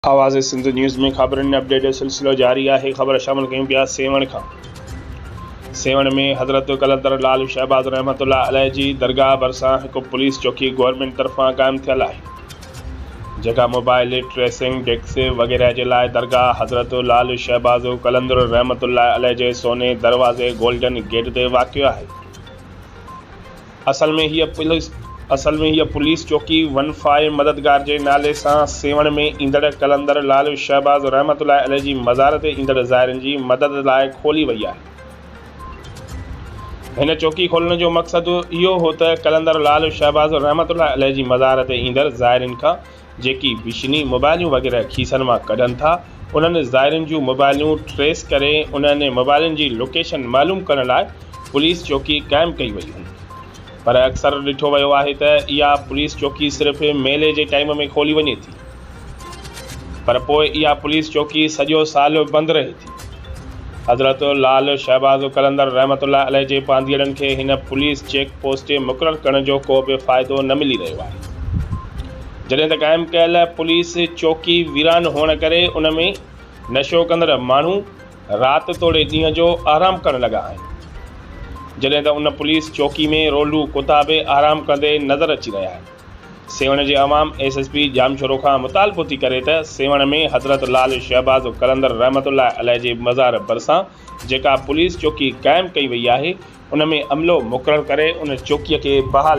آواز سنڌ نيوز ۾ خبرن اپڊيٽ جو سلسلو جاري آهي خبر شامل ڪيون پيا سيوهڻ کان سيوهڻ ۾ حضرت قلندر لال شهباز رحمت الله عليه جي درگاهه ڀرسان هڪ پوليس چوڪي گورنمينٽ طرفان قائم ٿيل آهي جيڪا موبائل ٽريسنگ ڊيڪس وغيره جي لاء درگاهه حضرت لال شهباز قلندر رحمت الله عليه جي سوني دروازي گولڊن گيٽ تي واقع آهي اصل ۾ هيء پوليس اصل ۾ هيء پوليس چوڪي ون فائي مددگار جي نالي سان سيوهڻ ۾ ايندڙ قلندر لعل شهباز رحمة الله عليه جي مزار تي ايندڙ زائرين جي مدد لاء کولي وئي آهي. هن چوڪي کولڻ جو مقصد اهو هو ته قلندر لعل شهباز رحمة الله عليه جي مزار تي ايندڙ زائرين کان جيڪي بشني موبائلون وغيره کيسن مان ڪڍن ٿا انهن زائرين جون موبائلون ٽريس ڪري انهن موبائلن جي لوڪيشن معلوم ڪرڻ لاء پوليس چوڪي قائم ڪئي وئي هئي پر اڪثر ڏٺو ويو آهي ته اها پوليس چوڪي صرف ميلي جي ٽائيم ۾ کولي وڃي ٿي پر پوء اها پوليس چوڪي سڄو سال بند رهي ٿي. حضرت لعل شهباز قلندر رحمة الله عليه جي پانڌيئڙن کي هن پوليس چيڪ پوسٽ مقرر ڪرڻ جو ڪو به فائدو نه ملي رهيو آهي جڏهن ته قائم ڪيل پوليس چوڪي ويران هئڻ ڪري ان ۾ نشو ڪندڙ ماڻهو رات توڙي ڏينهن جو آرام ڪرڻ لڳا آهن جڏهن ته ان پوليس چوڪي ۾ رولو ڪتا به آرام ڪندي نظر اچي رهيا آهن. سيوهڻ جي عوام ايس ايس پي ڄامشورو کان مطالبو ٿي ڪري ته سيوهڻ ۾ حضرت لعل شهباز قلندر رحمة الله عليه جي مزار ڀرسان جيڪا پوليس چوڪي قائم ڪئي وئي آهي ان ۾ عملو مقرر ڪري ان چوڪي کي بحال